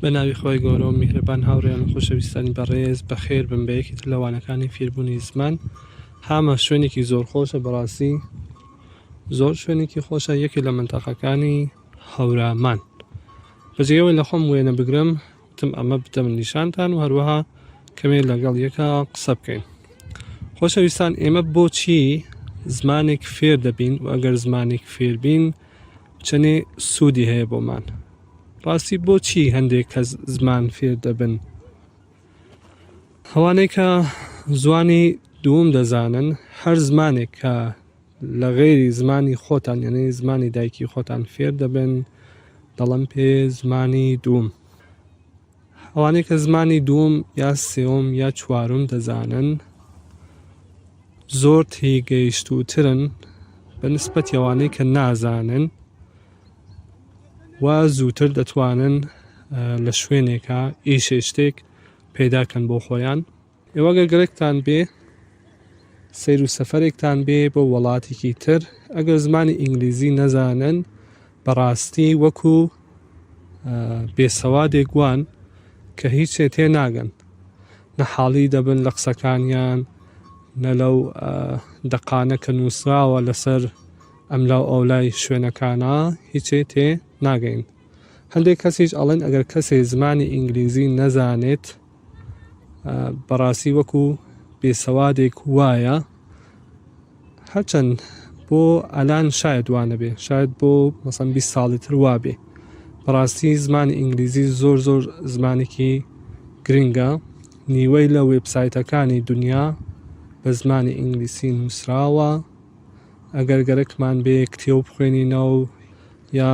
بە ناوی خوای گەورە و میهرەبان هاوڕێیان و خۆشەویستانی بەڕێز بەخێر بن بە یەکێک لە وانەکانی فیربوونی زمان هامە شوێنێکی زۆر خۆشە بەڕاستی زۆر شوێنێکی خۆشە یەکێک لە منتەقەکانی هەورامان بەجێەوەی لە خۆم وێنە بگرم تم ئەمە بدەم نیشانتان و هەروەها کەمێ لەگەڵ یەکە قسە بکەین خۆشەویستان ئێمە بۆچی زمانێک فێر دەبین و ئەگەر زمانێک فێربین چەنێ سوودی هەیە بۆمان ڕاستی بۆچی هەندێک کەس زمان فێر دەبن؟ ئەوانەی کە زوانی دووم دەزانن هەر زمانێک کە لە غێری زمانی خۆتان یعنی زمانی دایکی خۆتان فێر دەبن دەڵم پێ زمانی دووم ئەوانەی کە زمانی دووەم یا سێوم یا چوارم دەزانن زۆر تی گەیشتوترن بە نسبەت ئەوانەی کە نازانن و زووتر دەتوانن لە شوێنێکە ئیشێشتێک پێداکەن بۆ خۆیان ئێوە گەر گەرەکتان بێ سەیر و سەفەرێکتان بێ بۆ وەڵاتێکی تر ئەگەر زمانی ئینگلیزی نەزانن بەڕاستی وەکو بێسەوادێک وان کە هیچێ تێ ناگەن نە حاڵی دەبن لە قسەکانیان نە لەو دەقانە کە نووسراوە لەسەر ئەملا و ئەولای شوێنەکانە هیچێ تێ ناگەین هەندێک کەسیش ئەڵێن ئەگەر کەسێ زمانی ئینگلیزی نەزانێت بەڕاستی وەکو بێسەوادێک وایە هەرچەند بۆ ئەلان شاید وانەبێ شاید بۆ مەسەن بی ساڵی تر وابێ بەڕاستی زمانی ئینگلیزی زۆر زۆر زمانێکی گرنگە نیوەی لە وێبسایتەکانی دنیا بە زمانی ئینگلیسی نووسراوە ئەگەر گەرەکمان بێ کتێو بخوێنینەوە یا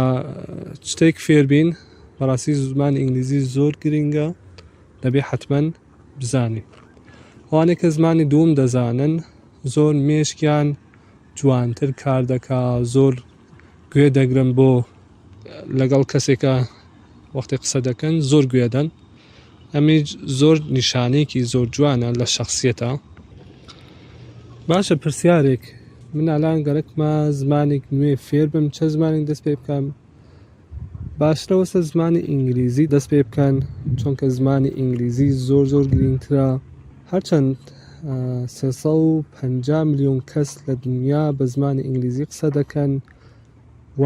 شتێک فێربین بەڕاستی زمان ئینگلیزی زۆر گرنگە دەبێ حتمما بزانین ئەوانێک کە زمانی دووم دەزانن زۆر مێشکیان جوانتر کار دەکا زۆر گوێ دەگرن بۆ لەگەڵ کەسێکە وەختی قسە دەکەن زۆر گوێدەن ئەمەیش زۆر نیشانەیەکی زۆر جوانە لە شخصیەتە باشە پرسیارێک من ئالان گەرەکمە زمانێک نوێ فێر بم چە زمانێک دەست پێ بکەم باشرەوەسە زمانی ئینگلیزی دەست پێ بکەن چونکە زمانی ئینگلیزی زۆر زۆر گرنگترە هەرچەند 350 میلیۆن کەس لە دنیا بە زمانی ئینگلیزی قسە دەکەن و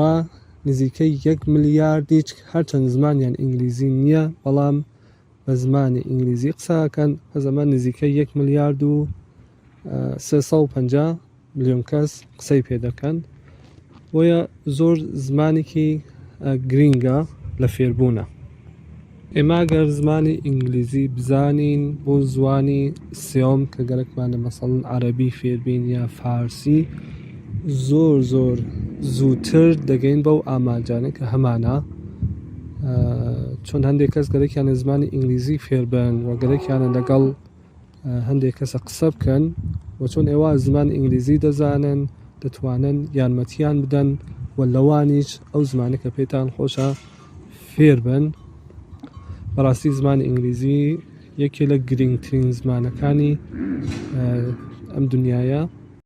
نزیکەی یەک ملیاردیچ هەرچەند زمانیان ئینگلیزی نییە بەڵام بە زمانی ئینگلیزی قساکەن بە زەمە نزیکەی یەک ملیارد و 350 میلیۆن کەس قسەی پێ دەکەن بۆیە زۆر زمانێکی گرینگە لە فێربوونە ئێمە گەر زمانی ئینگلیزی بزانین بۆ زوانی سێۆم کە گەرەکمانە مەسەڵن عەرەبی فێربین یا فارسی زۆر زۆر زووتر دەگەین بەو ئامانجانە کە هەمانە چۆن هەندێک کەس گەرەکیانە زمانی ئینگلیزی فێربن و گەرەکیانە لەگەڵ هەندێک کەسە قسە بکەن و چۆن ئێوە زمان ئینگلیزی دەزانن دەتوانن یارمەتیان بدەن و لەوانیش ئەو زمانە کە پێتان خۆشە فێر بن بەڕاستی زمان ئینگلیزی یەکێ لە گرنگترین زمانەکانی ئەم دنیاە